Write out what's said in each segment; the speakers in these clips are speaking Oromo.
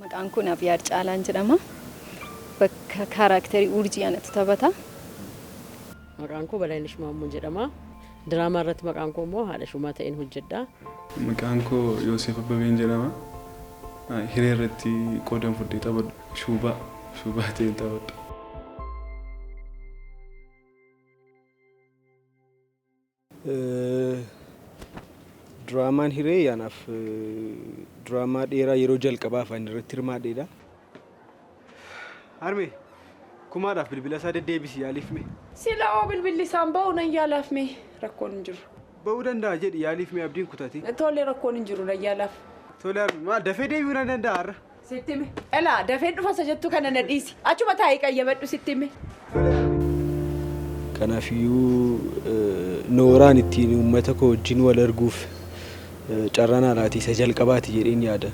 Maqaan kun Abiyaad Caalaan jedhama. Bakka kaaraakterii Urjii anatu taphata. Maqaan koo Balaayinash Maammoo jedhama. Diraamaa irratti maqaan koo immoo haadha shumaa ta'een hojjedha. Maqaan koo Yooseef Abbabeen jedhama. Hiree irratti qoodan fudhee taphadha. Shuubaa shuubaa ta'een taphadha. Diraamaan Hiree anaaf diraamaa dheeraa yeroo jalqabaaf ani irratti hirmaadheedha. Harmee, kumaadhaaf bilbila isaa deddeebisi yaaliif mee. Sila hoo bilbilli isaan ba'u nan yaalaaf mee rakkoon hin jiru. Ba'uu danda'a jedhi yaaliif mee abdiin kutate. Tole rakkoon hin jiru nan yaalaaf. Tole harmee, maal dafee deebi'uu nan danda'a har'a? Sitti hime. Elaa dafeen dhufa isa jettu kana na dhiisi. Achuma taa'ii qayyabadhu sitti hime. Kanaafiyyuu nooraan ittiin uummata koo wajjin wal arguuf carraa naa laate isa jalqabaati jedheen yaada.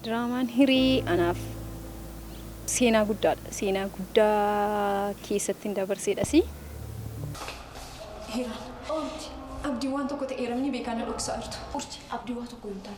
Diraamaan Hirii anaaf seenaa guddaadha. Seenaa guddaa keessattin dabarseedhasi. Hira. Urji. Abdiin waan tokko ta'eera ni beekaa na dhoksaa jirtu. Urji. Abdii waa tokko hin taane.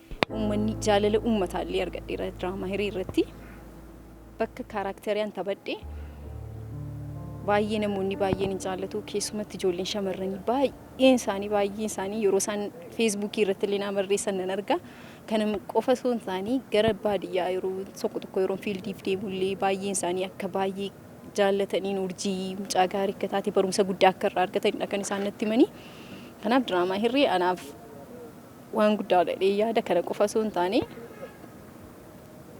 Uummanni jaalala uummataallee argadheera diraamaa hiree irratti. Bakka kaaraakteriyan taphadhe baay'ee namoonni baay'een hin jaallatu keessumatti ijoolleen shamarranii baay'een isaanii baay'een isaanii yeroo isaan feesbuukii irratti illee naa barreessan nan arga. Kana qofa osoo hin taane gara baadiyyaa yeroo tokko tokko yeroo fiildiif deemullee baay'een isaanii akka baay'ee jaallataniin urjii mucaa gaarii akka taate barumsa guddaa akka irraa argatanidha kan isaan natti himanii. Kanaaf diraamaa hirree anaaf Waan guddaa jedhee yaada kana qofa osoo hin taane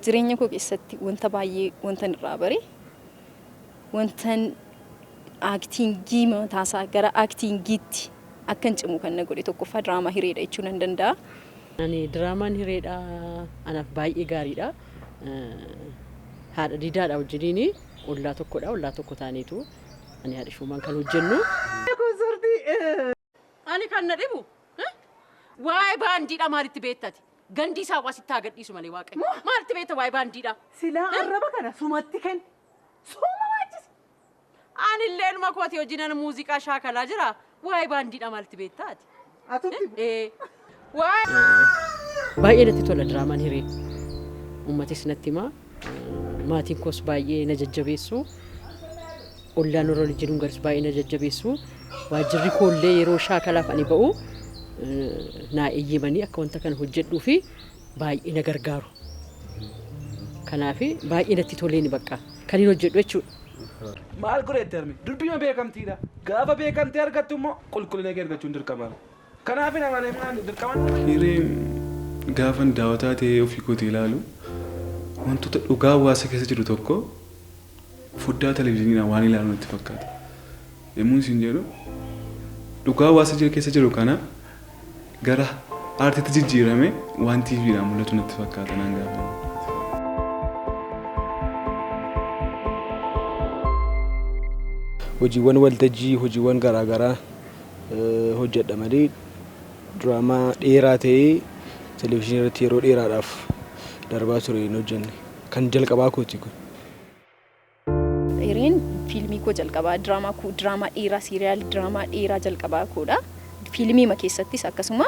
jireenya koo keessatti wanta baay'ee wantan irraa bare wantan aaktiingii mataasaa gara aaktiingiitti akkan cimu kan na godhe tokkoffaa diraamaa hireedha jechuu nan danda'a. Ani diraamaan hireedha anaaf baay'ee gaariidha. Haadha diidaadha wajjiniin ollaa tokkodha ollaa tokko taaneetu ani haadha shoomaan kan hojjennu. Ani kan na dhibu waa'ee baandiidhaa maalitti beekta ati? Gandii saawwaa sitti haa gadhiisu malee waaqayyo. Maalitti beekta waa'ee baandiidhaa? Silaa arraba kana sumatti kenni. Suma waachisi. Anillee ilma kooti hojiinan muuziqaa shaakalaa jira. Waa'ee baandiidhaa maalitti beekta ati? Atutti bu. Ee Baay'ee natti tola diraamaan hiree. Uummatis natti himaa. Maatiin koos baay'ee na jajjabeessu. Ollaan warra waliin jiruun garis baay'ee na jajjabeessu. Waajjirri koollee yeroo shaakalaaf ani ba'u naa eeyyamanii akka wanta kana hojjedhuu fi baay'ee na gargaaru. Kanaaf baay'ee natti toleeni bakka kan hin hojjedhu jechuudha. Maal godheetti harmi? Durbiima beekamtiidha. Gaafa beekamtii argattu immoo qulqullina kee argachuun dirqama. Kanaafin amane maali dirqaman nama. Hireen gaafan daawataa ta'ee ofii kootii ilaalu wantoota dhugaa hawaasa keessa jiru tokko foddaa televizhiniidhaan waan ilaalu natti fakkaata. Yemmuun isin jedhu dhugaa hawaasa jira keessa jiru kana gara aartiitti jijjiirame waan TVdhaan mul'atu natti fakkaata naan gaafan. hojiiwwan waltajjii, hojiiwwan garaa garaa. hojjedha malee diraamaa dheeraa ta'ee televizyiinii irratti yeroo dheeraadhaaf darbaa ture hin hojjenne. Kan jalqabaa kooti kun. Hireen fiilmii koo jalqabaa diraamaa koo diraamaa dheeraa siiriyaal diraamaa dheeraa jalqabaa koodha. Fiilmiima keessattis akkasuma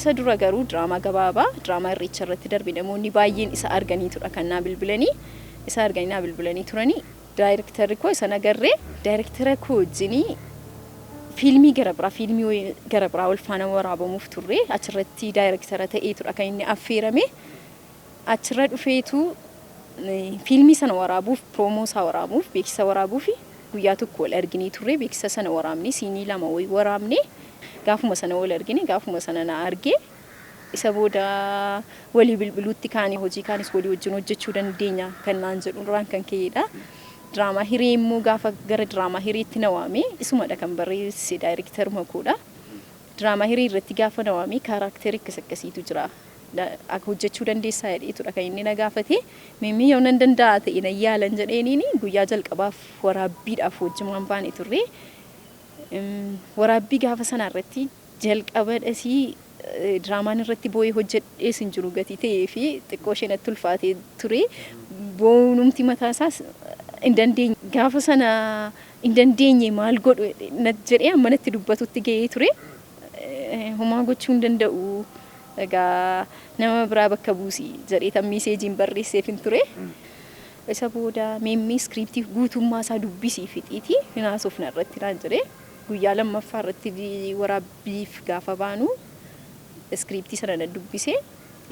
isa dura garuu diraamaa gabaabaa diraamaa irreecha irratti darbe namoonni baay'een isa arganiitudha kan naa bilbilanii isa arganii naa bilbilanii turanii Daayreektarri koo isan agarree daayreektara koo wajjin fiilmii gara biraa fiilmii gara biraa wal faana waraabamuuf turre achirratti daayreektara ta'eetudha kan inni affeerame achirra dhufeetu fiilmii sana waraabuuf piroomoo isaa waraabuuf beeksisa waraabuuf guyyaa tokko wal arginee turre beeksisa sana waraabne siinii lama wayii waraabne gaafuma sana wal argine gaafuma sana na arge Isa booda walii bilbiluutti kaane hojii kaanis walii wajjin hojjechuu dandeenya kan naan jedhu irraan kan ka'eedha. Diraamaa hiree immoo gaafa gara diraamaa hireetti na waame isumadha kan barreesse daayiriktaruma koodha. Diraamaa hiree irratti gaafa na waame kaaraakterii akkas akkasiitu jira. Akka hojjechuu dandeessaa jedheetudha kan inni na gaafate. Mimmii yoo nan danda'a ta'e nan yaalan jedheeniin guyyaa jalqabaaf waraabbiidhaaf wajjumaan baane turre. Waraabbii gaafa sanaa irratti Jalqaba dhasii diraamaan irratti boo'ee hojjedhees hin jiru gatii ta'ee fi xiqqoo ishee natti ulfaatee ture. Boo'uunumti mataa isaas hin dandeenye. Gaafa sana hin dandeenye maal godhu jedhee amma natti dubbatutti ga'ee ture. Homaa gochuu hin danda'u. Egaa nama biraa bakka buusi jedheetan miiseejiin barreesseefin ture. Isa booda meemmee iskiriiptii guutummaa isaa dubbisii fixiitii hin haasofna irratti naan jedhee. Guyyaa lammaffaa irratti waraabbiif gaafa baanu iskiriiptii sana nan dubbise.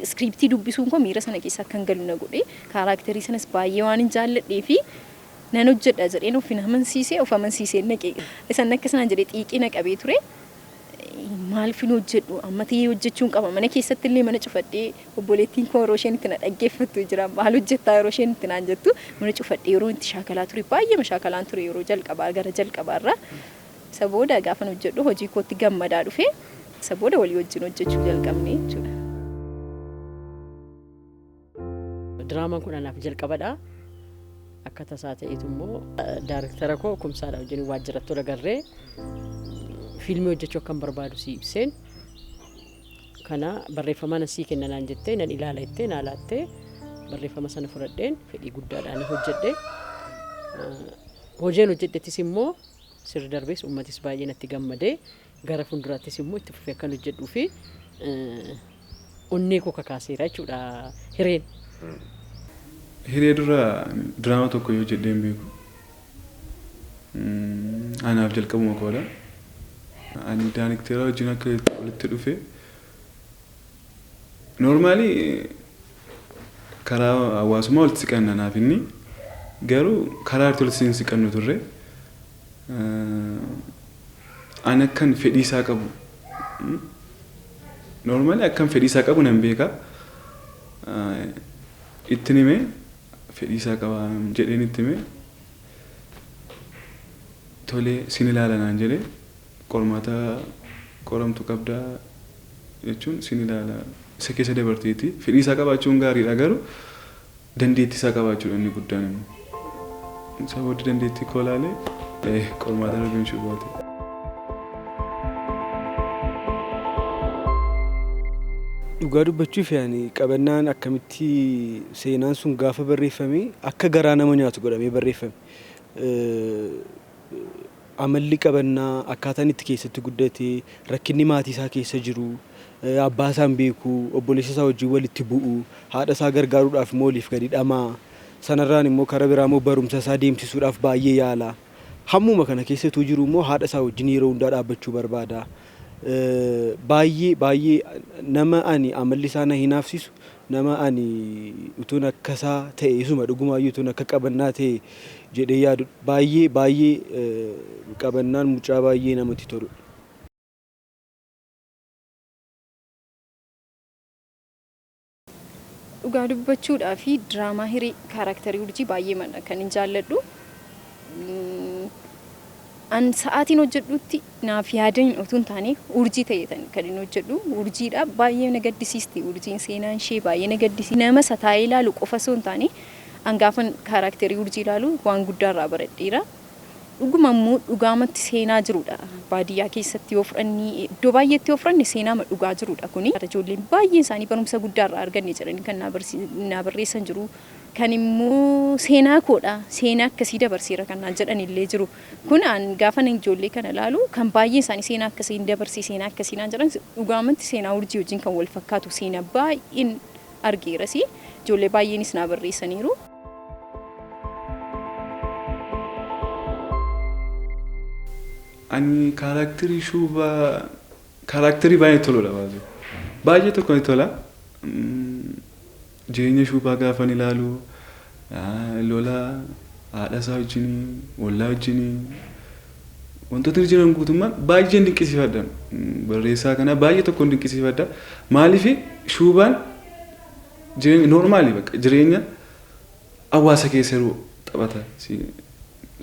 Iskiriiptii dubbisuun koo miira sana keessa akkan galu na godhe. Kaaraakterii sanas baay'ee waanin jaalladhee fi nan hojjedha jedheen ofin amansiise, of amansiiseen dhaqe. Isan akkas naan jedhe xiiqii na qabee ture. Maalfin hojjedhu amma ta'ee hojjechuun qaba. Mana keessatti illee mana cufadhee Obboleettiin koo yeroo isheen itti na dhaggeeffattu jira. Maal hojjettaa yeroo isheen itti naan jettu mana cufadhee yeroo itti shaakalaa ture baay'eema shaakalaan ture yeroo jalqabaa gara jalqabaa irraa. Isa booda gaafan hojjedhu hojii kootti gammadaa dhufe. Isa booda walii wajjin hojjechuu jalqabne jechuudha. Diraamaan kun anaaf jalqabadha. Akka tasaa ta'eetu immoo daariktara koo Kumsaadha wajjin waajjiratti wal agarree fiilmii hojjechuu akkan barbaadu si ibseen kana barreeffamaa nan sii kenna naan jettee nan ilaala jettee naa laattee barreeffama sana fudhadheen fedhii guddaadhaan hojjedhe. Hojeen hojjedhettis immoo sirri darbees uummatis baay'ee natti gammadee gara fuulduraattis immoo itti fufee akkan hojjedhuu fi onnee koo kakaaseera jechuudha hireen. Hiree dura diraama tokko yoo hojjedhee hin beeku. Anaaf jalqabuma koodha. Ani daanikteeraa wajjin akka walitti dhufe noormaalii karaa hawaasummaa walitti siqanna naaf inni garuu karaa irratti walitti hin siqannu turre. Ani akkan fedhii isaa qabu noormaalii akkan fedhii isaa qabu nan beeka ittiin hime. fedhii isaa qaba jedheen itti hime. Tole sin ilaala naan jedhe. Qormaata qoramtu qabda jechuun sin ilaala isa keessa dabarteeti. Fedhii isaa qabaachuun gaariidha garuu dandeettii isaa qabaachuudha inni guddaan immoo. Isa booddee dandeettii koo ilaalee qormaata irra galchuu baate. Dhugaa dubbachuuf yaani qabannaan akkamitti keessatti seenaan sun gaafa barreeffame akka garaa nama nyaatu godhamee barreeffame. Amalli qabannaa akkaataan itti keessatti guddate rakkinni maatii isaa keessa jiru abbaa isaa hin beeku obboleessa isaa wajjin walitti bu'u haadha isaa gargaaruudhaaf immoo oliif gadi dhamaa sanarraan immoo karaa biraa immoo barumsa isaa deemsisuudhaaf baay'ee yaala. Hammuma kana keessatuu jiru immoo haadha isaa wajjin yeroo hundaa dhaabbachuu barbaada. Baay'ee baay'ee nama ani amalli isaa na hinaafsisu nama ani utuun akka isaa ta'e isuma dhugumaayyuu utuun akka qabannaa ta'e jedhee yaadu baay'ee baay'ee qabannaan mucaa baay'ee namatti toludha. Dhugaa dubbachuudhaafi diraamaa hiree kaaraaktarii urjii baay'eemadha kan hin jaalladhu. An sa'aatiin hojjedhutti naaf yaadaniin otuu hin taane urjii ta'eetan kan hin hojjedhu. Urjiidha baay'ee na gaddisiisti urjiin seenaan ishee baay'ee na gaddisiisti. Nama isa taa'ee ilaalu qofa osoo hin taane an gaafan kaaraaktarii urjii ilaalu waan guddaa irraa baradheera. Dhuguma immoo dhugaamatti seenaa jirudha. Baadiyyaa keessatti yoo fudhanne, iddoo baay'eetti yoo fudhanne seenaama dhugaa jirudha kuni. Ijoolleen baay'een isaanii barumsa guddaa irraa arganne jedhanii kan naa barreessan jiru. Kan immoo seenaa koodha, seenaa akkasii dabarseera kan naan jedhan illee jiru. Kun an gaafan ijoollee kana ilaalu kan baay'een isaanii seenaa akkasiin dabarse, seenaa akkasii naan jedhan dhugaamatti seenaa urjii wajjin kan wal fakkaatu seenaa baay'een argeeras. Ijoollee baay'eenis naa barreessaniiru. Ani kaaraakterii shuubaa kaaraakterii baay'ee toludha baay'ee. Baay'ee tokko ni tola. Mm, Jireenya shuubaa gaafan ilaalu Lola haadha isaa wajjin, ollaa wajjin wantootni jiran guutummaan baay'een dinqisiifadha. Barreessaa kanaa baay'ee tokkoon dinqisiifadha. Maaliif shuubaan jireenya noormaali bakka jireenya hawaasa keessa yeroo taphata.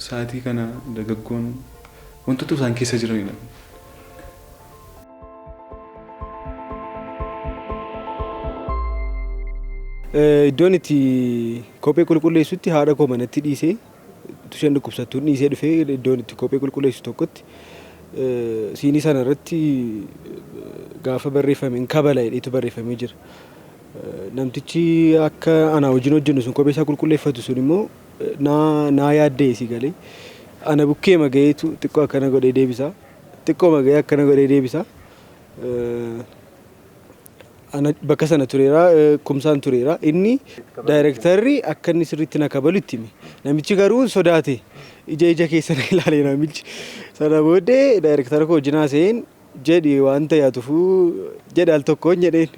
Saatii kana dargaggoon wantoota isaan keessa jiranidha. Iddoon itti kophee qulqulleessutti haadha koo manatti dhiisee isheen dhukkubsattuun dhiisee dhufee iddoon itti kophee qulqulleessu tokkotti siinii sana irratti gaafa barreeffame hin kabala jedheetu barreeffamee jira. Namtichi akka anaa wajjin hojjennu sun kophee isaa qulqulleeffatu sun immoo naa yaadda'e si galee ana bukkeema ga'eetu xiqqoo akkana godhee deebisaa. Xiqqooma ga'ee akkana godhee deebisa. Ana bakka sana tureera, kumsaan tureera. Inni daayirektarri akka inni sirriitti na kabalu itti hime. Namichi garuu sodaate. Ija ija keessa na ilaale namichi. Sana booddee daayirektara koo wajjin haasa'een jedhi wanta yaatufuu jedhe al tokkoon jedheen.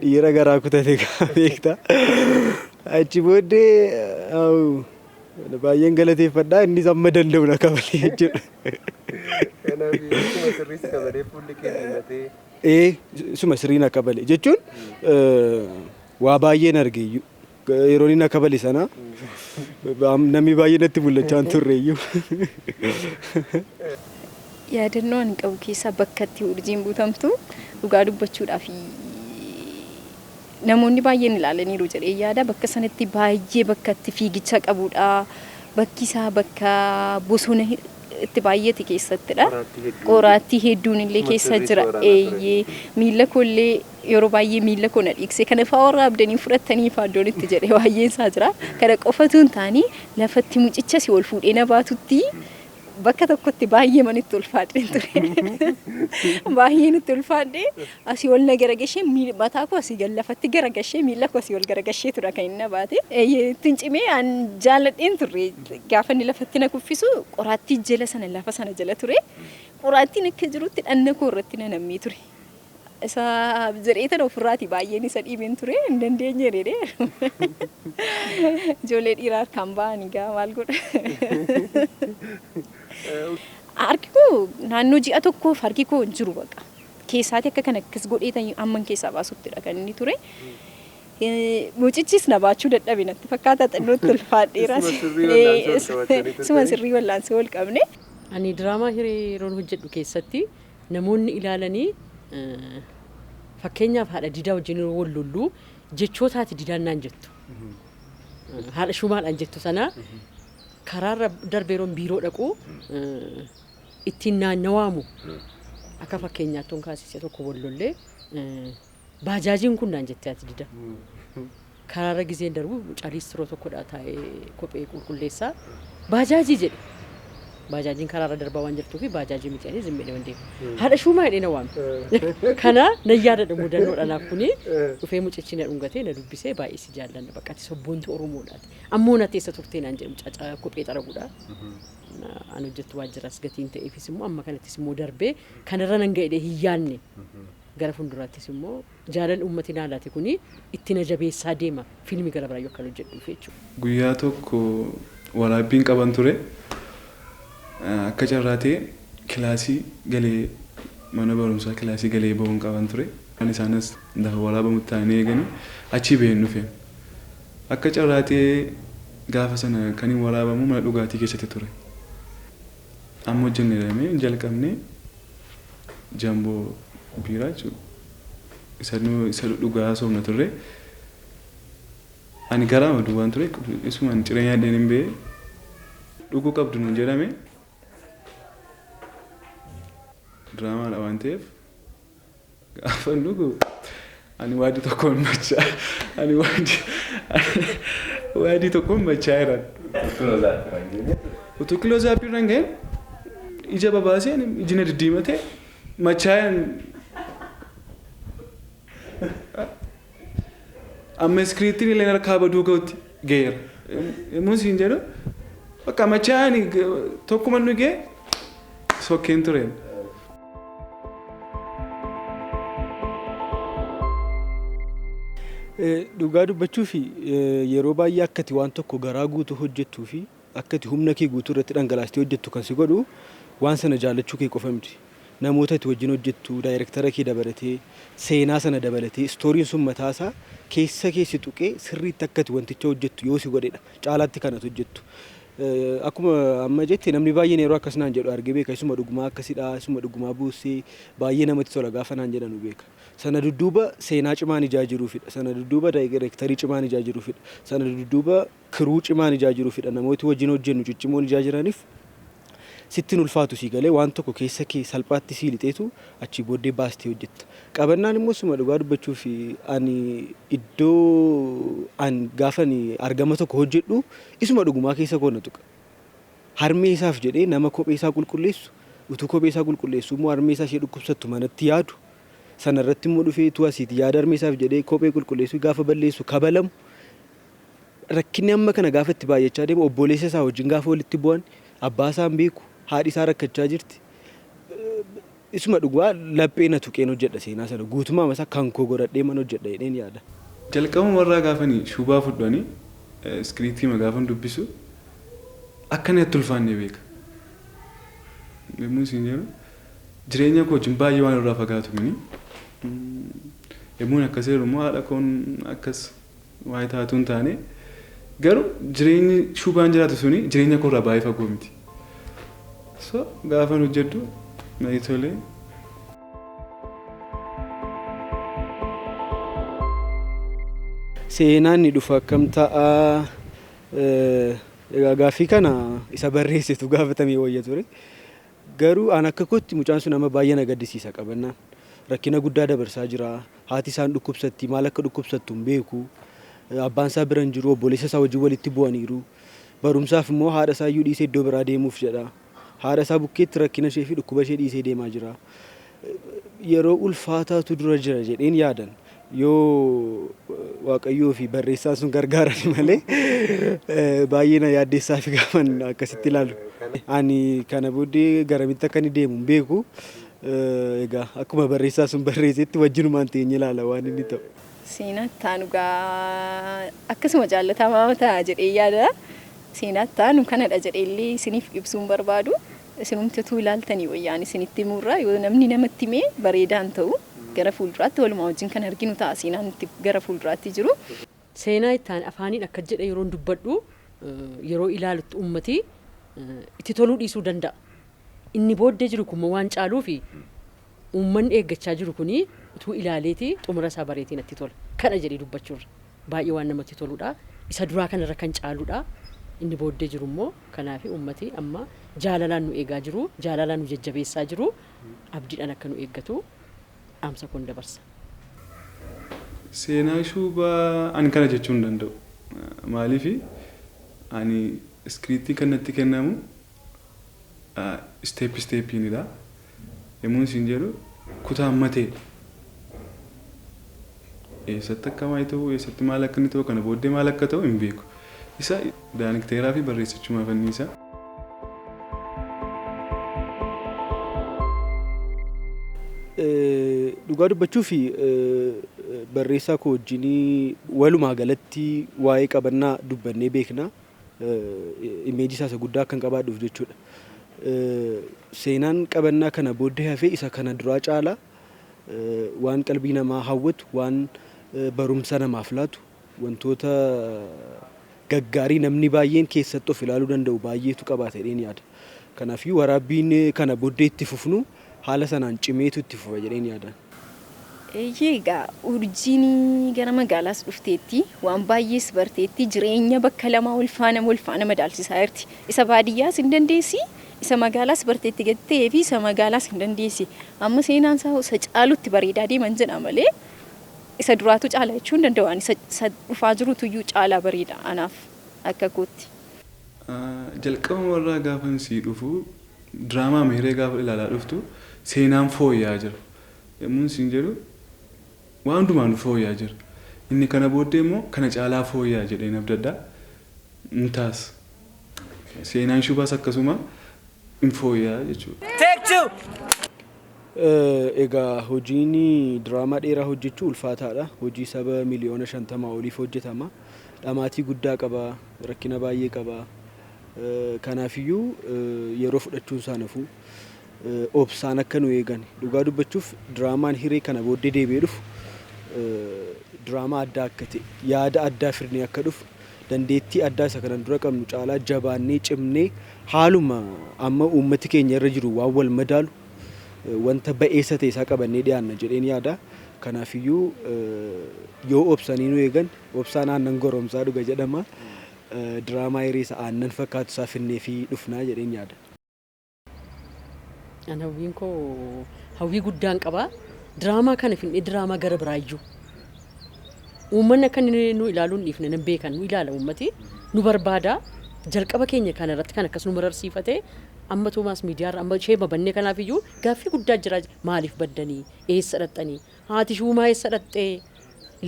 Dhiira garaa kutate beekta. Achi booddee Baay'een galateeffadha innis amma danda'u na kabalee jechuudha. Kanaaf akkuma sirrii si kabalee fuulli kee diimatee. Ee suma sirrii na kabale jechuun waa baay'een arge iyyuu yeroo inni na kabale sana namni baay'ee natti mul'achaa hin turre iyyuu. Yaadannoo ani qabu keessaa bakka itti urjiin butamtu dhugaa dubbachuudhaaf Namoonni baay'een ilaalaniiru jedheen yaada. Bakka sanatti baay'ee bakka itti fiigicha qabudha. Bakki isaa bakka bosona itti baay'eeti keessattidha. Qoraattii hedduun. Qoraattii hedduun illee keessa Sirriitti jira. waraanaa ture. Eeyyee. Miilla koo illee yeroo baay'ee miilla koo na dhiigse. Kana fa'aa waraabdanii fudhattanii fa'aa iddoon itti jedhe baay'een isaa jira. Kana qofatu hin taane lafatti mucicha si ol fuudhee na baatutti bakka tokkotti baay'ee manitti ulfaadheen ture. baay'ee nutti ulfaadhee asii ol na garagashee miil- mataa koo asii gad lafatti garagashee miila koo asii ol garagashee tura kan inni baate. Eeyyee, Ittiin cimee an jaaladheen turre gaafa inni lafatti na kuffisu qoraattii jala sana lafa sana jala ture. Qoraattiin akka jirutti dhanna koo irratti na nammee ture. Isa jedhee tan ofirraati baay'een isa dhiibeen ture hin dandeenye jedhee ijoollee dhiiraa harkaan ba'anii gaa maal godha. Harki koo naannoo ji'a tokkoof harki koo hin jiru baqa. Keessaati akka kan akkas godhee tan amman keessaa baasuttidha kan inni ture. Eh, Mucichis na baachuu dadhabe natti fakkaata xinnootti ulfaadheeraas. Isuma sirrii wallaansoo wal qabattanii turtanii? Isuma sirrii wallaansoo wal qabne. Ani diraamaa hiree yeroon hojjedhu keessatti Namoonni ilaalanii fakkeenyaaf haadha didaa wajjin yeroo wal lollu jechoota haati didaan naan jettu haadha shuumaadhaan jettu sana karaarra darbe yeroon biiroo dhaqu ittiin naannawaamu akka fakkeenyaattoon kaasise tokko wal lollee Baajaajiin kun naan jettee ati dida. Karaarra gizeen darbu mucaa liistiroo tokkodha taa'ee kophee qulqulleessaa. Baajaajii jedhe. Baajaajiin karaarra darbaa waan jirtuu fi baajaajii miti ani zim jedhee deema. Haadha shuumaa jedhee na waame. Kana na yaadadha mudannoodha naaf kuni. Dhufee mucichi na dhungatee na dubbisee baay'ee si jaallanna bakka ati sabboontu Oromoodhaati. Ammoo natti eessa turtee naan jedhe mucaa ca- kophee xaraguudha. Na- An hojjettu waajjiras gatiin ta'eefis immoo amma kanattis immoo darbee kanarra nan ga'edhee hin yaadne. Gara fulduraattis immoo jaalal uummati naa laate kuni itti na jabeessaa deema fiilmi gara biraayyuu akkan hojjedhuuf jechuudha. Guyyaa tokko waraabbiin qaban ture. Akka carraa ta'ee kilaasii galee mana barumsaa kilaasii galee bahuun qaban ture. Isaan as lafa waraabamutti taa'anii eeganii achii baheen dhufe. Akka carraa ta'ee gaafa sana kanin waraabamu mana dhugaatii keessatti ture. Amma hojjenne jedhamee hin jalqabne jamboo biiraa jechuudha. Isa nu isa dhugaa haasofna turre. Ani garaama duwwaan ture isuma ani ciree nyaadheen hin ba'e dhuguu qabdu nuun jedhame diraamaadha waan ta'eef Gaafan dhugu ani waadii tokkoon machaa ani waadii waadii tokkoon machaa jiran. Utuu kiloo zaappii irra hin ga'in ija babaasee ani iji na diddiimatee machaa Amma iskiriiptiin illee harkaa baduu ga'utti ga'eera. Yommuu siin jedhu bakka machaa'aan tokkuma inni ga'e sokkeen ture. Dhugaa dubbachuuf yeroo baay'ee akkati waan tokko garaa guutuu hojjettuu fi Akka ati humna kee guutuu irratti dhangalaastee hojjettu kan si godhu waan sana jaallachuu kee qofa miti. Namoota ati wajjin hojjettu, daayirektara kee dabalatee, seenaa sana dabalatee, istooriin sun mataa isaa keessa kee si tuqee sirriitti akka ati wanticha hojjettu yoo si godhe dha caalaatti kan ati hojjettu. Akkuma amma jette namni baay'een yeroo akkas naan jedhu argee beeka. Isuma dhugumaa akkasi dha, isuma dhugumaa boossee baay'ee namatti tola gaafa naan jedhanu beeka. Sana dudduuba seenaa cimaan ijaa jiruufi dha. Sana dudduuba daayirektarii cimaan ijaa jiruufi dha. Sana dudduuba Crew cimaan ijaa jiru fidha namooti wajjin hojjennu ciccimoon ijaa jiraniif sitti hin ulfaatu sii galee waan tokko keessa kee salphaatti sii lixeetu achii booddee baastee hojjetta qabannaan immoo suma dhugaa dubbachuuf ani iddoo an gaafan argama tokko hojjedhu isuma dhugumaa keessa koo na tuqa harmee isaaf jedhee nama kophee isaa qulqulleessu utuu kophee isaa qulqulleessu immoo harmee isaa ishee dhukkubsattu manatti yaadu sana irratti immoo dhufee utuu asiiti yaada harmee isaaf jedhee kophee qulqulleessu gaafa balleessu kabalamu rakkinni amma kana gaafa itti baay'achaa deemu obbooleessa isaa wajjin gaafa walitti bu'an abbaa isaa hin beeku haadhi isaa rakkachaa jirti isuma dhugaa laphee na tuqeen hojjedha seenaa sana guutumaa masa kan koo godhadhee man hojjedha jedheen yaada. Jalqabuma irraa gaafani shubaa fudhu ani iskiriiptiima gaafan dubbisu akka inni natti ulfaanne beeka yommuun siin jedhu jireenya koo wajjin baay'ee waan irraa fagaatu kuni yommuun akkas jedhu immoo haadha koon akkas Waa'ee taa utuu hin taane garuu jireenyi shubaan jiraatu suni jireenya koo irraa baay'ee fagoo miti. So gaafan hojjedhu na tolee. Seenaan ni dhufa akkam ta'a? Eh, Egaa gaaffii kana isa barreessetu gaafatamee wayya ture. Garuu an akka kootti mucaan sun amma baay'ee na gaddisiisa qabannaan rakkina guddaa dabarsaa jira haati isaan dhukkubsatti maal akka dhukkubsattu hin beeku abbaan isaa bira hin jiru obboleessa isaa wajjin walitti bu'aniiru barumsaaf immoo haadha isaa iyyuu dhiisee iddoo biraa deemuuf jedha haadha isaa bukkeetti rakkina ishee fi dhukkuba ishee dhiisee deemaa jira yeroo ulfaataatu dura jira jedheen yaadan yoo waaqayyoo fi barreessaan sun gargaarani malee baay'ee na yaaddeessaa fi gaafan akkasitti ilaalu. Ani kana booddee garamitti akka inni deemu hin beeku. Egaa akkuma barreessaa sun barreessetti wajjinumaan teenye ilaala waan inni ta'u. Seenaattaa dhugaa akkasuma jaallatamaa ta'a jedhee yaada. Seenaattaa nu kanadha jedhee illee isiniif ibsuun barbaadu. Isinumti utuu ilaaltanii wayya ani isinitti himuu irra yoo namni namatti himee bareedaa hin ta'u gara fuulduraatti walumaa wajjin kan arginu ta'a seenaan itti gara fuulduraatti jiru. Seenaa itti aane afaaniin akkas jedhe yeroon dubbadhu yeroo ilaalutti ummati itti toluu dhiisuu danda'a. Inni booddee jiru kun immoo waan caaluufi ummanni eeggachaa jiru kun utuu ilaaleeti xumura isaa bareeti natti tola. Kana jedhee dubbachuu irra. Baay'ee waan namatti toludha. Isa duraa kanarra kan caaludha. Inni booddee jiru immoo kanaafi uummati amma jaalalaan nu eegaa jiru. Jaalalaan nu jajjabeessaa jiru. Abdiidhaan akka nu eeggatu dhaamsa koon dabarsa. Seenaa Shuubaa ani kana jechuu hin danda'u. Maaliif ani iskiriiptiin kan natti kennamu step steppiinidha. Yommuun isin jedhu kutaan matee eessatti akka waa'ee ta'u eessatti maal akka inni ta'u kana booddee maal akka ta'u hin beeku. Isa daanikteeraa fi barreessichumaa fanniisa. Dhugaa dubbachuu fi barreessaa koo wajjin walumaa galatti waa'ee qabannaa dubbannee beekna. image isaa isa guddaa akkan qabaadhuuf jechuudha. Seenaan qabannaa kana booddee hafee isa kana duraa caala waan qalbii namaa hawwatu, waan barumsa namaaf laatu, wantoota gaggaarii namni baay'een keessatti of ilaaluu danda'u baay'eetu qabaata jedheen yaada. Kanaafiyyuu waraabbiin kana boddee itti fufnu haala sanaan cimeetu itti fufa jedheen yaadaan. Eeyyee egaa urjiin gara magaalaas dhufteetti, waan baayyees barteetti, jireenya bakka lamaa walfaana walfaana madaalchisaa jirti. Isa baadiyyaas hin dandeessi, isa magaalaas barteetti gadi ta'eefi isa magaalaas hin dandeessi. Amma seenaan isaa hoo isa caalutti bareedaa deeman jedha malee isa duraatu caala jechuu hin danda'u ani isa dhufaa jirutuyyuu caalaa bareeda anaaf akka kootti. Jalqabumarraa gaafan sii dhufu diraamaa Mihiree gaafa ilaalaa dhuftu seenaan fooyya'aa jira yommuun siin jedhu waan hundumaanuu fooyya'aa jira. Inni kana booddee immoo kana caalaa fooyya'a jedheen abdadha. Ni taas. Seenaan shubaas akkasuma hin fooyya'a jechuudha. Egaa hojiin diraamaa dheeraa hojjechuu ulfaataadha. Hojii saba miliyoona 50 oliif hojjetama. dhamaatii guddaa qaba, rakkina baay'ee qaba. Kanaafiyyuu yeroo fudhachuun isaa nafu obsaan akka nu eegan dhugaa dubbachuuf diraamaan hiree kana booddee deebi'ee dhufu diraamaa addaa akka ta'e yaada addaa fidnee akka dhufu dandeettii addaa isa kanan dura qabnu caalaa jabaannee cimnee haaluma amma uummati keenya irra jiru waan wal madaalu wanta ba'eessa ta'e isaa qabannee dhiyaanna jedheen yaada. Kanaafiyyuu yoo obsanii nu eegan Obsaan aannan goromsaa dhuga jedhama. Diraamaa hiriisa aannan fakkaatu isaa finneefii dhufnaa jedheen yaada. An hawwiin koo hawwii guddaan qaba. Diraamaa kana finnee diraamaa gara biraa iyyuu. Uummanni akka inni nu ilaaluu hin dhiifne nan beekan nu ilaala uummati nu barbaada. Jalqaba keenya kana irratti kan akkas nu mararsiifate amma Toomaas miidiyaarra amma ishee babannee kanaaf iyyuu gaaffii guddaa jira maaliif baddanii eessa dhaqxanii Haati Shuumaa eessa dhaqxee?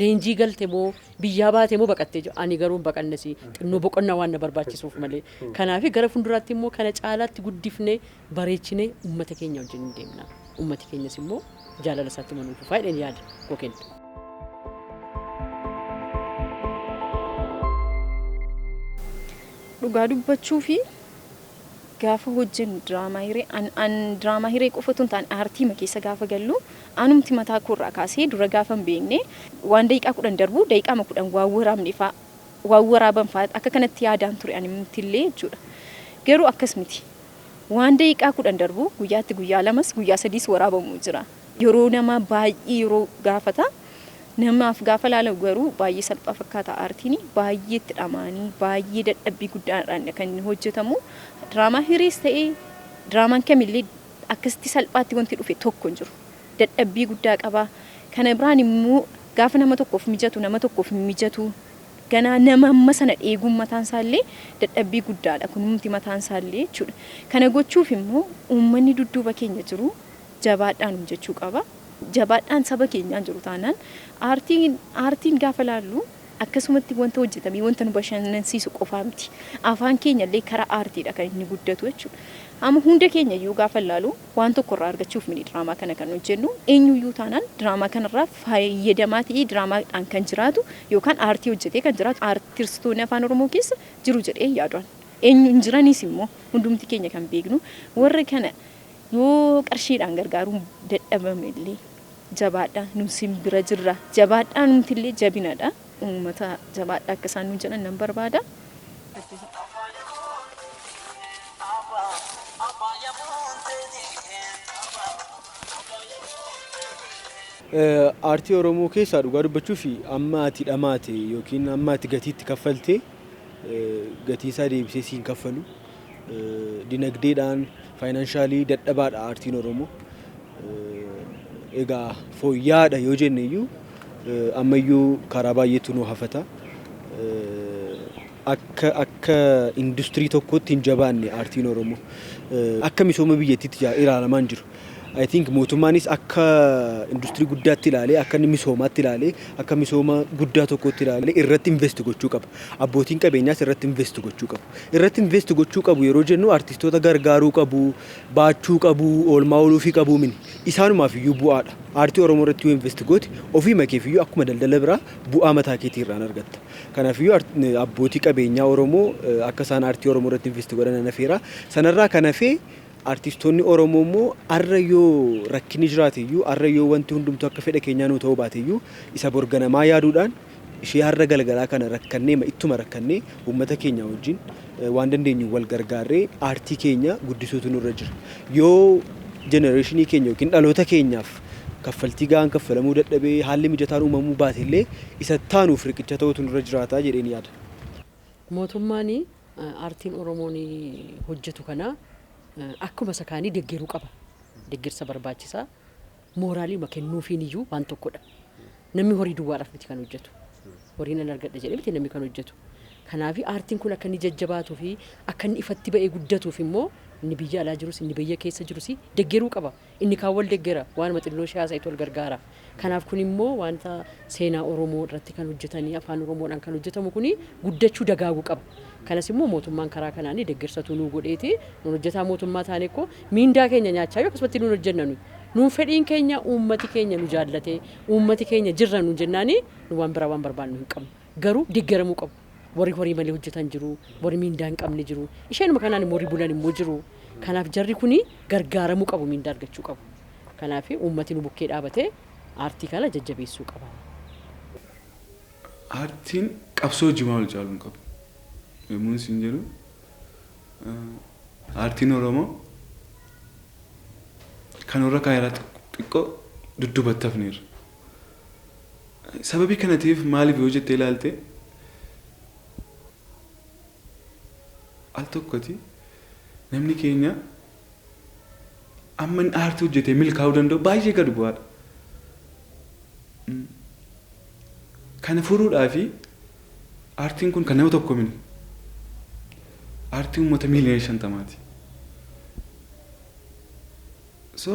Leenjii galte moo? Biyyaa baate moo baqattee? jedhu. Ani garuu hin baqanne si. Xinnoo boqonnaa waan na barbaachisuuf malee. Kanaafi gara fuulduraatti immoo kana caalaatti guddifnee, bareechinee uummata keenya wajjin hin deemna. Uummati keenyas immoo jaalala isaa ittuma nuu fufa jedheen yaada koo kenna. Dhugaa dubbachuufi Gaafa hojjennu diraamaa hiree an an diraamaa hiree qofa utuu hin taane aartiima keessa gaafa gallu anumti mataa koo irraa kaasee dura gaafa hin beekne waan daqiiqaa kudhan darbu daqiiqaama kudhan waan waraabne faa waan waraaban faa akka kanatti yaadaan ture animti illee jechuudha. Garuu akkas miti. Waan daqiiqaa kudhan darbu guyyaatti guyyaa lamas guyyaa sadiis waraabamu jira. Yeroo namaa baay'ee yeroo gaafata. Namaaf gaafa laalamu garuu baay'ee salphaa fakkaata aartiin. Baay'ee itti dhama'anii, baay'ee dadhabbii guddaadhaanidha kan inni hojjetamu. Diraamaa hiriis ta'e diraamaan kamillee akkasitti salphaatti wanti dhufe tokko hin jiru. Dadhabbii guddaa qaba. Kana biraan immoo gaafa nama tokkoof mijatu nama tokkoof hin mijatu. Ganaa nama amma sana dheeguun mataan isaallee dadhabbii guddaadha kunumti mataan isaallee jechuudha. Kana gochuuf immoo uummanni dudduuba keenya jiru Jabaadhaa nuun jechuu qaba. Jabaadhaan saba keenyaan jiru taanaan aartiin aartiin gaafa laallu akkasumatti wanta hojjetamee wanta nu bashannansiisu qofaa miti. Afaan keenya illee karaa aartiidha kan inni guddatu jechuudha. Amma hunda keenya iyyuu gaafa ilaalu waan tokko irraa argachuuf miti diraamaa kana kan hojjennu. Eenyu iyyuu taanaan diraamaa kanarraa fayyadamaa ta'ee diraamaadhaan kan jiraatu yookaan aartii hojjetee kan jiraatu aartistoonni afaan Oromoo keessa jiru jedhee hin yaadu ani. Eenyu hin jiranis immoo hundumti keenya kan beeknu warra kana Yoo qarshiidhaan gargaaruun dadhabame illee jabaadhaa nu isin bira jirra jabaadhaa nuti illee jabinadha uummata jabaadhaa akka isaan nuun jedhan nan barbaada. Aartii Oromoo keessaa dhugaa dubbachuuf amma ati dhamaate yookiin amma ati gatii itti kaffalte gatii isaa deebisee si hin kaffalu. dinagdeedhaan, faayinaanshaali dadhabaadha aartiin Oromoo. Egaa fooyya'aadha yoo jenne iyyuu ammayyuu karaa baay'eetu nu hafata. Akka akka industirii tokkootti hin jabaanne aartiin Oromoo. Akka misooma biyyattiitti jaa- ilaalamaa hin jiru. I think mootummaanis akka industirii guddaatti ilaalee, akka inni misoomaatti ilaalee, akka misooma guddaa tokkootti ilaalee irratti invest gochuu qaba. Abbootiin qabeenyaas irratti invest gochuu qabu. irratti invest gochuu qabu yeroo jennu artistoota gargaaruu qabu, baachuu qabu, oolmaa ooluufii qabu mini. Isaanumaaf iyyuu bu'aadha. Aartii Oromoo irratti yoo invest goote ofiima keef iyyuu akkuma daldala biraa bu'aa mataa keetii irraan argatta. Kanaaf iyyuu abbootii qabeenyaa Oromoo akka isaan aartii Oromoo irratti invest godhan nan afeera. Sana irraa kan hafe artistoonni Oromoo immoo arra yoo rakkinni jiraate iyyuu, arra yoo wanti hundumtuu akka fedha keenyaa nuu ta'uu baate iyyuu isa bor ganamaa yaaduudhaan ishee har'a galgalaa kana rakkanneema ittuma rakkannee uummata keenyaa wajjin waan dandeenyuun wal gargaarree aartii keenya guddisuutu nurra jira. Yoo jenereeshinii keenya yookiin dhaloota keenyaaf kaffaltii gahaan kaffalamuu dadhabee haalli mijataan uumamuu baatellee isa ittaanuuf riqicha ta'uutu nurra jiraata jedheen yaada. Mootummaan aartiin Oromoon hojjetu kana akkuma isa kaanii deggeruu qaba. Deggersa barbaachisaa. Mooraaliima kennuufiin iyyuu waan tokko dha. Namni horii duwwaadhaaf miti kan hojjetu. Horii nan argadha jedhee miti namni kan hojjetu. Kanaaf aartiin kun akka inni jajjabaatuu fi akka inni ifatti ba'ee guddatuuf immoo inni biyya alaa jirus inni biyya keessa jirus deggeruu qaba. Inni kaan wal deggera, waanuma xinnoo ishee haasa'itu wal gargaara. Kanaaf kun immoo wanta seenaa Oromoo irratti kan hojjetanii afaan Oromoodhaan kan hojjetamu kun guddachuu dagaagu qaba. Kanas immoo mootummaan karaa kanaan deggersa utuu nuu godheeti nuun hojjetaa mootummaa taanee koo Miindaa keenya nyaachaa yoo akkasumatti nuun hojjenna nuyi. Nuun fedhiin keenya uummati keenya nu jaallatee, uummati keenya jirra nuun jennaanii nu waan biraa waan barbaannu hin qabnu. Garuu deggaramuu qabu. Warri horii malee hojjetan jiru, warri miindaa hin qabne jiru. Isheenuma kanaan immoo warri bulan immoo jiru. Kanaaf jarri kuni gargaaramuu qabu, miindaa argachuu qabu. Kanaaf uummati nu bukkee dhaabatee aartii kana jajjabeessuu qaba. Aartiin qabsoo hojii waan wal caalu hin qabu yommuun siin jedhu Aartiin Oromoo kan warra kaan irraa xiqqoo dudduubatti hafneerra. Sababii kana ta'eef maaliif yoo jettee ilaalte al tokkoti namni keenya amma inni aartii hojjetee milkaa'uu danda'u baay'ee gad bu'aadha. Kana furuudhaafi Aartiin kun kan nama tokkoo miti. Aartii uummata miiliyoona shantamaati. So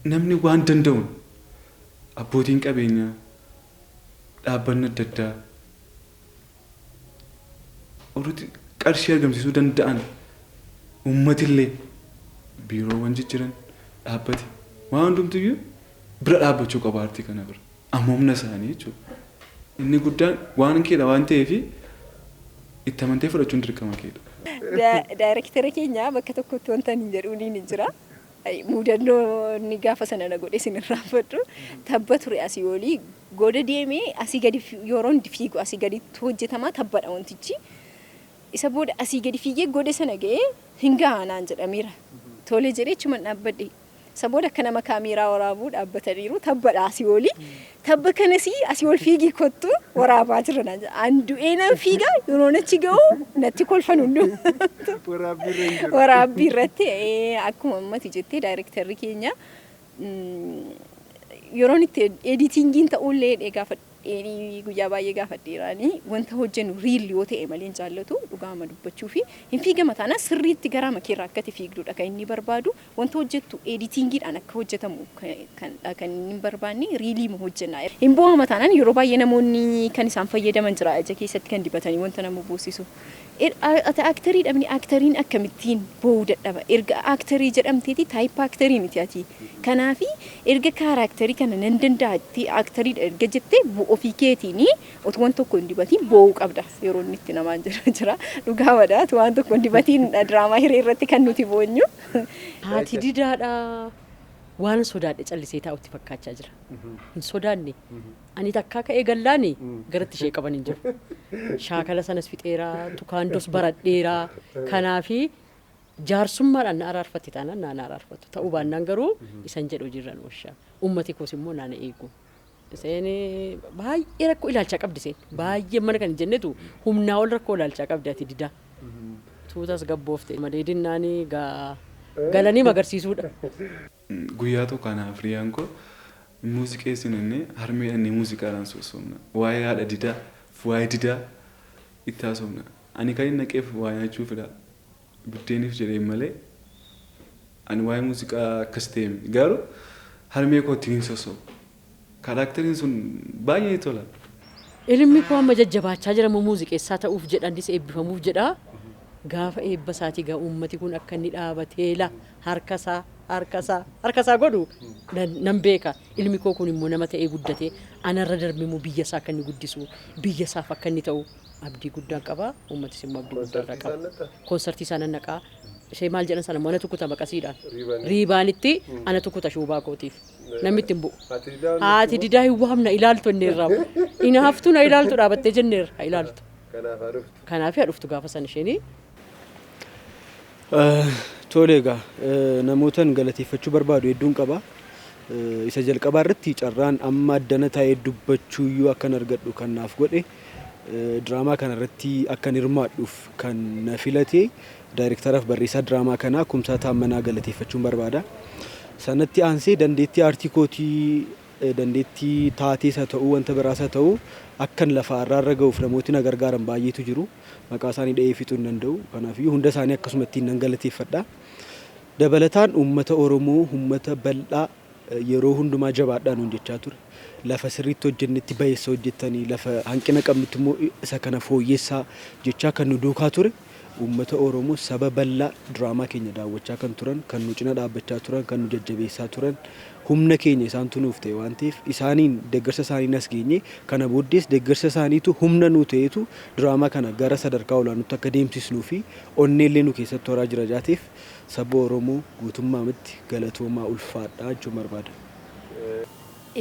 namni waan danda'uun abbootiin qabeenyaa, dhaabbanni adda addaa warrooti qarshii argamsiisuu danda'an uummatillee biiroowwan jijjiran dhaabbati waan hundumtiyyuu bira dhaabbachuu qaba aartii kana bira. Amma humna isaanii jechuudha. Inni guddaan waan keedha waan ta'eef itti amantee fudhachuun dirqama keedha. Daayrektera keenya bakka tokkotti wanta ani jedhuuniin hin jira. Muudannoo inni gaafa sana na godhe isin irraanfadhu. Tabba ture asii olii goda deemee asii gadi yeroon fiigu asii gaditti hojjetamaa tabbadha wantichi. Isa booda asii gadi fiigee goda sana ga'ee hin gahaa naan jedhameera. Tole jedhee achuman dhaabbadhe. San booda akka nama kaamiiraa waraabuu dhaabbataniiru. Tabbadha asii oli. Tabba kanas asii ol fiigii kottu waraabaa jirra naan jedha. An du'ee nan fiiga yeroon achi ga'u natti kolfan hunduu. Waraabbii irra hin jiru. Waraabbii irratti ee, akkuma ammati jettee daayirektarri keenya mm, yeroon itti editingiin ta'ullee dhee gaafadheenii guyyaa baay'ee gaafadheeraanii wanta hojjennu riil yoo ta'e malee hin jaallatu dhugaama dubbachuu fi hin fiigama taanaan sirriitti garaa makeerraa akkati fiigdudha kan inni barbaadu Wanta hojjettu editingiidhaan akka hojjetamu kanidha kan inni hin barbaanne riiliima hojjenna. Hin boohama taanaan yeroo baay'ee namoonni kan isaan fayyadaman jira ija keessatti kan dibatanii wanta nama boosisu. Ati aaktarii dhabni aaktariin akkamittiin boohuu dadhaba. Erga aaktarii jedhamteeti taayippa aaktarii miti ati. Kanaafi erga kaaraaktarii kana nan danda'a jettee aaktarii erga jettee ofii keetiin Otu wan tokko hin dibatiin boo'uu qabda yeroo inni itti namaan jedhu jira. Dhugaa madha otu waan tokko hin dibatiin diraamaa hiree irratti kan nuti boonyu. Haati didaadha waan sodaadhe callisee taa'utti fakkaachaa jira. Hin sodaanne. Ani takkaa ka'ee gallaani garatti ishee qaban hin jiru. Shaakala sanas fixeera, tukaandos baradheera. Kanaafi jaarsummaadhaan na araarfatti taanaan naa na araarfattu. Ta'uu baannaan garuu isan jedhu hojiirra nu oolcha. Uummati koos immoo naa na eegu. Iseen baay'ee rakkoo ilaalchaa qabdi iseen. Baay'ee mana kan hin jennetu humnaa ol rakkoo ilaalchaa qabdi ati didaa. Tuutas gabboofte malee dinnaan galanii magarsiisuudha. Guyyaa tokko anaa fi hiriyaan koo hin muuziqeessinu jennee harmee dhannee muuziqaadhaan sossoofna. Waa'ee haadha didaa fi waa'ee didaa itti haasofna. Ani kan hin naqeef waa nyaachuufidha. Buddeenif jedheen malee ani waa'ee muuziqaa akkas ta'e miti. Garuu harmee kootiin hin sosso'u. Karaakteriin sun baay'ee natti tola. Ilmi koo amma jajjabaachaa jira immoo muuziqeessaa ta'uuf jedha innis eebbifamuuf jedha. Gaafa eebba isaatii egaa uummati kun akka inni dhaabatee la harka isaa harka isaa harka isaa godhu nan, nan beeka. Ilmi koo kun immoo nama ta'ee guddatee anarra darbee immoo biyya isaa akka inni guddisu biyya isaaf akka inni ta'u abdii guddaa qaba uummatis immoo abdii guddaa irraa qaba. Konsartii isaan naqxaa? Konsartii isaa nan naqaa. Ishee maal jedhan sana immoo anatu kuta maqasiidhaan. Riibanii. Riibaanitti anatu kuta shuubaa kootiif. Namni itti hin bu'u. Haati didaa hin Haati naqxuu? didaa hin waamna ilaaltu jenneerraa. Inaaftuu na ilaaltu dhaabattee jenneerra ha ilaaltu. Kanaaf haa dhuftu. Kanaaf haa dhuftu gaafa sana isheenii. Tole egaa namootan galateeffachuu barbaadu hedduun qaba. Isa jalqabaa irratti carraan amma addana taa'ee dubbachuuyyuu akkan argadhu kan naaf godhe Diraamaa kana irratti akkan hirmaadhuuf kan na filate daayirektaraaf barreessaa diraamaa kanaa Kumsaa Taammanaa galateeffachuun barbaada. Sanatti aansee dandeettii aartii kootii eh, dandeettii taatees haa ta'uu wanta biraas haa ta'uu akkan lafa irraa irra ga'uuf namooti na gargaaran baay'eetu jiru. Maqaa isaanii dha'ee fixuu hin danda'u. Kanaafiyyuu hunda isaanii akkasumattiin nan galateeffadha. Dabalataan uummata Oromoo, uummata bal'aa yeroo hundumaa jabaadhaa nuun jechaa ture. Lafa sirriitti hojjennetti bayeessa hojjettanii lafa hanqina qabnutti immoo isa kana fooyyessaa jechaa kan nu duukaa ture uummata Oromoo saba bal'aa diraamaa keenya daawwachaa kan turan kan nu cina dhaabbachaa turan kan nu jajjabeessaa turan humna keenya isaantu nuuf ta'e waan ta'eef isaaniin deeggarsa isaaniin as geenye kana booddees deeggarsa isaaniitu humna nuu ta'eetu diraamaa kana gara sadarkaa olaanutti akka deemsisnuu fi onneellee nu keessatti horaa jira jaateef Saba Oromoo guutummaa mitti galatoomaa ulfaadhaa jechuun barbaada.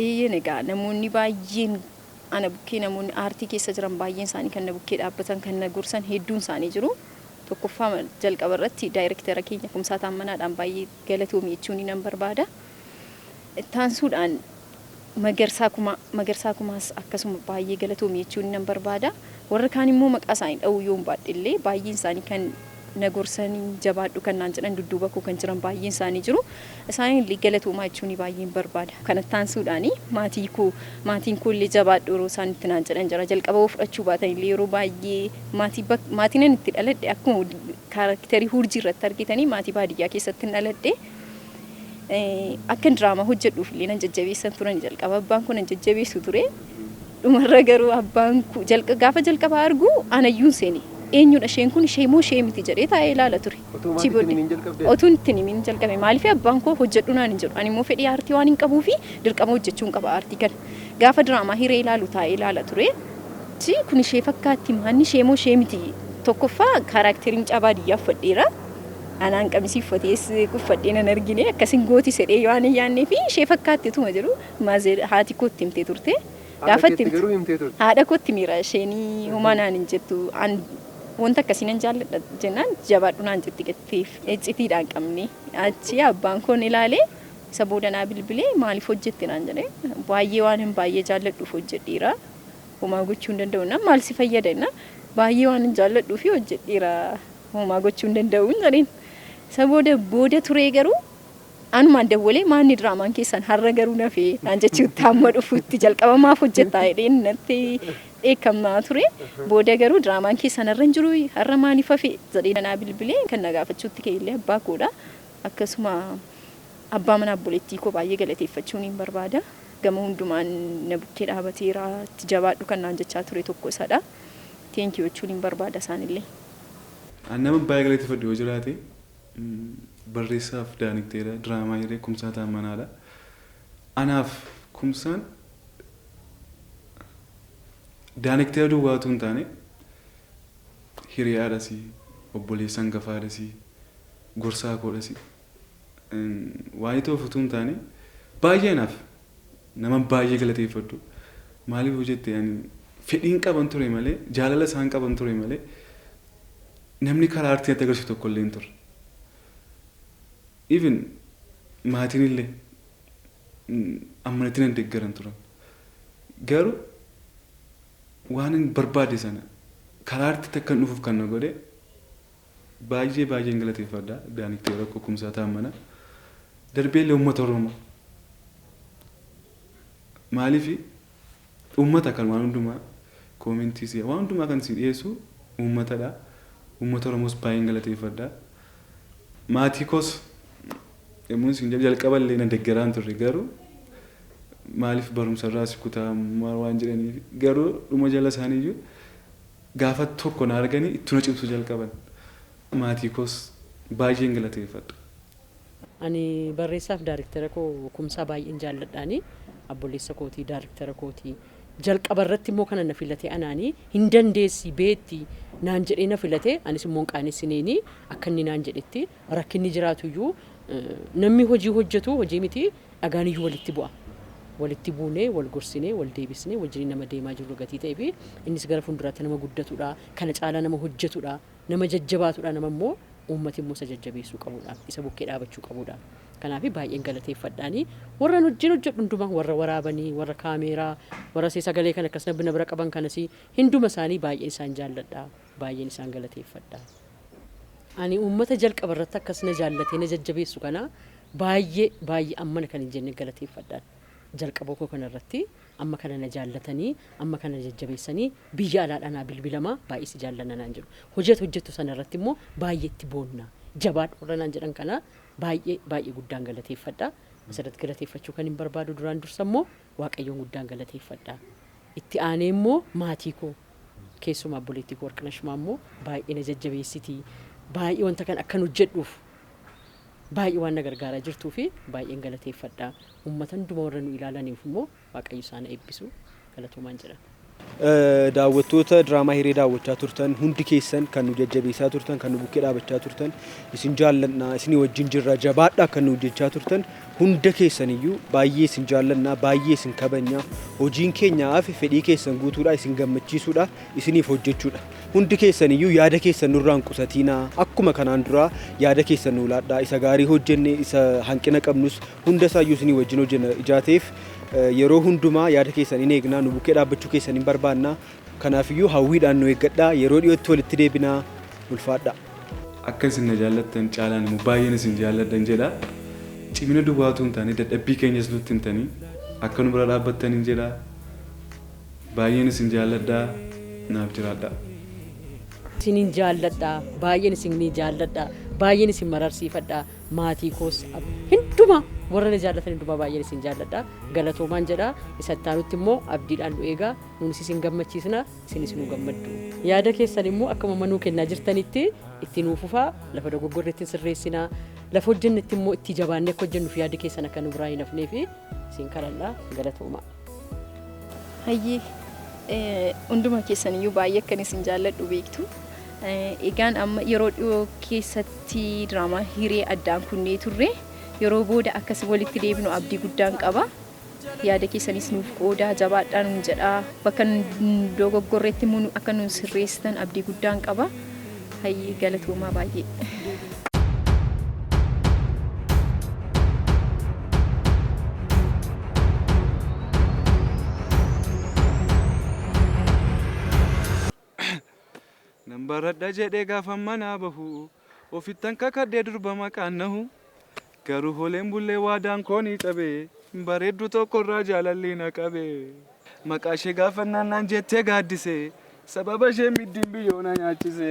Eeyyeen egaa namoonni baay'een ana bukkee namoonni aartii keessa jiran baay'een isaanii kan na bukkee dhaabbatan kan na gorsan hedduun isaanii jiru. Tokkoffaa jalqaba irratti daayirektera keenya Kumsaa Taammanaadhaan baay'ee galatoomi jechuunii nan barbaada. Itti aansuudhaan Magarsaa Kumaa, Magarsaa Kumaas akkasuma baay'ee galatoomi jechuun nan barbaada. Warra kaan immoo maqaa isaanii dha'uu yoon baadhe illee baay'een isaanii kan na gorsan, jabaadhu kan naan jedhan, dudduuba koo kan jiran baay'een isaanii jiru. Isaaniin illee galatoomaa jechuun baay'een barbaada. Kanatti aansuudhaan maatii koo, maatiin koo illee jabaadhu yeroo isaan itti naan jedhan jira. Jalqaba yoo fudhachuu baatan illee yeroo baay'ee maatii bak- maatiin ani itti dhaladhe akkuma kaarakterii hurjii irratti argitanii maatii baadiyyaa keessatti hin dhaladhe. Akkan diraamaa hojjedhuuf illee nan jajjabeessan turan jalqaba abbaan koo nan jajjabeessu ture. Dhumarra garuu abbaan koo jalqa gaafa jalqabaa argu anayyuun seene eenyudha isheen kun ishee moo ishee miti jedhee taa'ee ilaala ture. Otoo maatii itti himiin jalqabdee? Otuun itti himiin jalqabe maaliif abbaan koo hojjedhu naan hin jedhu ani immoo fedhii aartii waan hin qabuu fi dirqama hojjechuun qaba aartii kana. Gaafa diraamaa hiree ilaalu taa'ee ilaala ture. Achi kun ishee fakkaatti maanni ishee moo ishee miti tokkoffaa kaaraakterii mucaa baadiyyaa uffadheera. Anaan qamisii uffatees uffadhee nan argine akkasin gooti sedhee yoo ani yaannee fi ishee fakkaatti utuma jiru maazer haati kootti himtee turte. Gaafa itti garuu himtee turte. Haadha kootti miira isheen homaa naan hin jettu. An wanta akkasii nan jaalladha jennaan jabaadhu naan jetti gatteef iccitiidhaan qabne. Achi abbaan koon ilaalee isa booda naa bilbilee maaliif hojjette naan jedhe. Baay'ee waan hin baay'ee jaalladhuuf hojjedheera. Homaa gochuu hin danda'u jennaan maal si fayyada jennaan baay'ee waan hin jaalladhuuf hojjedheera. Homaa gochuu hin danda'uun jedheen. Isa booda booda turee garuu anumaan dawwalee maanni diraamaan keessan har'a garuu nafe naan jechuutti hamma dhufuutti jalqaba maaf hojjettaa jedheen natti dheekkamaa ture. Booda garuu diraamaan keessan har'a hin jiru har'a maaliif hafe jedhee nanaa bilbilee kan na gaafachuutti ka'e illee abbaa koodha. Akkasuma abbaa mana obboleettii koo baay'ee galateeffachuun hin barbaada. Gama hundumaan na bukkee dhaabateera itti jabaadhu kan naan jechaa ture tokko isadha. Teenkiyuu jechuun hin barbaada isaanillee. An nama baay'ee galateeffadhu yoo jiraate barreessaaf Daanikteera diraamaa Hiree Kumsaa Taammanaadha. Anaaf Kumsaan Daanikteera duwwaa utuu hin taane hiriyaadhasi, obboleessa hangafaadhasi, gorsaa koodhasi. waayitoof utuu hin taane baay'ee anaaf naman baay'ee galateeffadhu maaliif yoo jette ani fedhiin qaban ture malee jaalala isaan qaban ture malee namni karaa artii natti agarsiisu tokko illee hin turre. Even maatiin illee amanatti nan deeggaran turan. Garuu waan hin barbaade sana karaa artiitti akkan dhufuuf kan na godhe Baay'ee baay'een galateeffadha Daaniktee Rakkoo Kumsaa Taammanaa. Darbeellee uummata Oromoo. Maaliif uummata kan waan hundumaa koomentii si waan hundumaa kan si dhiyeessu uummatadha. Uummata Oromoos baay'een galateeffadha. Maatii koos yommuun isin jedhu jalqaballee na deggeraan turre garuu maaliif barumsarraa si kutaa waan jedhaniif garuu dhuma jala isaaniiyyuu Gaafa tokko na arganii ittu na cimsu jalqaban. Maatii koos baay'een galateeffadha. Ani barreessaaf daarektera koo Kumsaa baay'een jaalladhaani. Abbolleessa kooti, daarektera kooti. Jalqaba irratti immoo kana na filate anaani. Hin dandeessi, beetti naan jedhee na filate. Anis immoo hin qaanessineeni akka inni naan jedhetti. Rakkinni jiraatuyyuu namni hojii hojjetu hojii miti dhagaaniyyuu walitti bu'a. Walitti buunee, wal gorsinee, wal deebisnee wajjiniin nama deemaa jirru gatii ta'eefi innis gara fuulduraatti nama guddatudha, kana caalaa nama hojjetudha, nama jajjabaatudha, nama immoo uummati immoo isa jajjabeessuu qabudha, isa bukkee dhaabachuu qabudha. Kanaafi baay'een galateeffadhaani. Warran wajjin hojjedhu hundumaa warra waraabanii, warra kaameeraa, warra sagalee kana akkas na bira qaban kanas hinduma isaanii baay'een isaan jaalladha. Baay'een isaan galateeffadha. Ani uummata jalqaba irratti akkas na jaallatee na jajjabeessu kana baay'ee baay'ee ammana kan hin jenne galateeffadhaan. Jalqaba koo kana irratti amma kana na jaallatanii amma kana na jajjabeessanii biyya alaadhaa naa bilbilama baay'ee si jaallanna naan jedhu. Hojii ati hojjettu sana irratti immoo baay'ee itti boonna. Jabaadhu warra naan jedhan kana baay'ee baay'ee guddaan galateeffadha. Asirratti galateeffachuu kanin barbaadu duraan dursa immoo Waaqayyoon guddaan galateeffadha. Itti aanee immoo maatii koo. Keessumaa obboleettii koo Warqinash Maammoo baay'ee na jajjabeessiti. Baay'ee wanta kana akkan hojjedhuuf baay'ee waan na gargaaraa jirtuu fi baay'een galateeffadha. Uummata hundumaa warra nu ilaalaniif immoo Waaqayyo isaan haa eebbisu. Galatoomaan jedha. Daawwattoota diraamaa hiree daawwachaa turtan hundi keessan kan nu jajjabeessaa turtan kan nu bukkee dhaabachaa turtan isin jaallanna isinii wajjin jirra jabaadha kan nu hojjechaa turtan Hunda keessan iyyuu baay'ee isin jaallanna, baay'ee isin kabajna. Hojiin keenya hafe fedhii keessan guutuudha, isin gammachiisuudha, isiniif hojjechuudha. Hundi keessan iyyuu yaada keessan nurraa hin qusatiinaa. Akkuma kanaan duraa yaada keessan nuu laadhaa. Isa gaarii hojjenne, isa hanqina qabnus hunda isaa iyyuu isinii wajjin hojjenna. Ijaa ta'eef yeroo hundumaa yaada keessan in eegna, nu bukkee dhaabbachuu keessan in barbaanna. Kanaaf iyyuu hawwiidhaan nu eeggadhaa. Yeroo dhiyootti walitti deebinaa. Ulfaadhaa. Akka isin na jaallattan caalaan immoo baay'een isin jaalladhan jedha. Cimina duwwaa utuu hin taane dadhabbii keenyas nutti himtanii akka nu bira dhaabbattanin jedha. Baay'een isin jaalladha. Naaf jiraadhaa. Isinin jaalladha. Baay'een isinii jaalladha. Baay'een isin mararsiifadha. Maatii koos ab- hundumaa warra na jaallatan hundumaa baay'een isin jaalladha. Galatoomaan jedha. Isa itti aanutti immoo abdiidhaan nu eegaa. Nuunis isin gammachiisna. isinis nuu gammaddu. Yaada keessan immoo akkuma amma nuu kennaa jirtanitti itti nuu fufaa, lafa dogoggorre itti sirreessina, lafa hojjennetti immoo itti jabaannee akka hojjennuuf yaadi keessan akka nu biraa hin hafnee fi isin kadhanna galatoomaa. Hayyee eh, hunduma keessan iyyuu baay'ee akkan isin jaalladhu beektu. Eh, Egaan amma yeroo dhiyoo keessatti diraamaa hiree addaan kunnee turre yeroo booda akkasi walitti deebinu abdii guddaan qaba. Yaada keessanis nuuf qoodaa, jabaadhaa nuun jedhaa. Bakka nun dogoggorretti immoo nu akka nuun sirreessitan abdii guddaan qaba. Hayyee galatoomaa baay'ee. Nan baradha jedhee gaafan manaa bahu Ofittan kakadhee durba maqaan nahu Garuu holeen bullee waadaan koo ni cabe Bareedduu tokkorraa jaalalli na qabe Maqaashee gaafannaan naan jettee gaaddise Sababa isheen middiin biyyoo na nyaachise.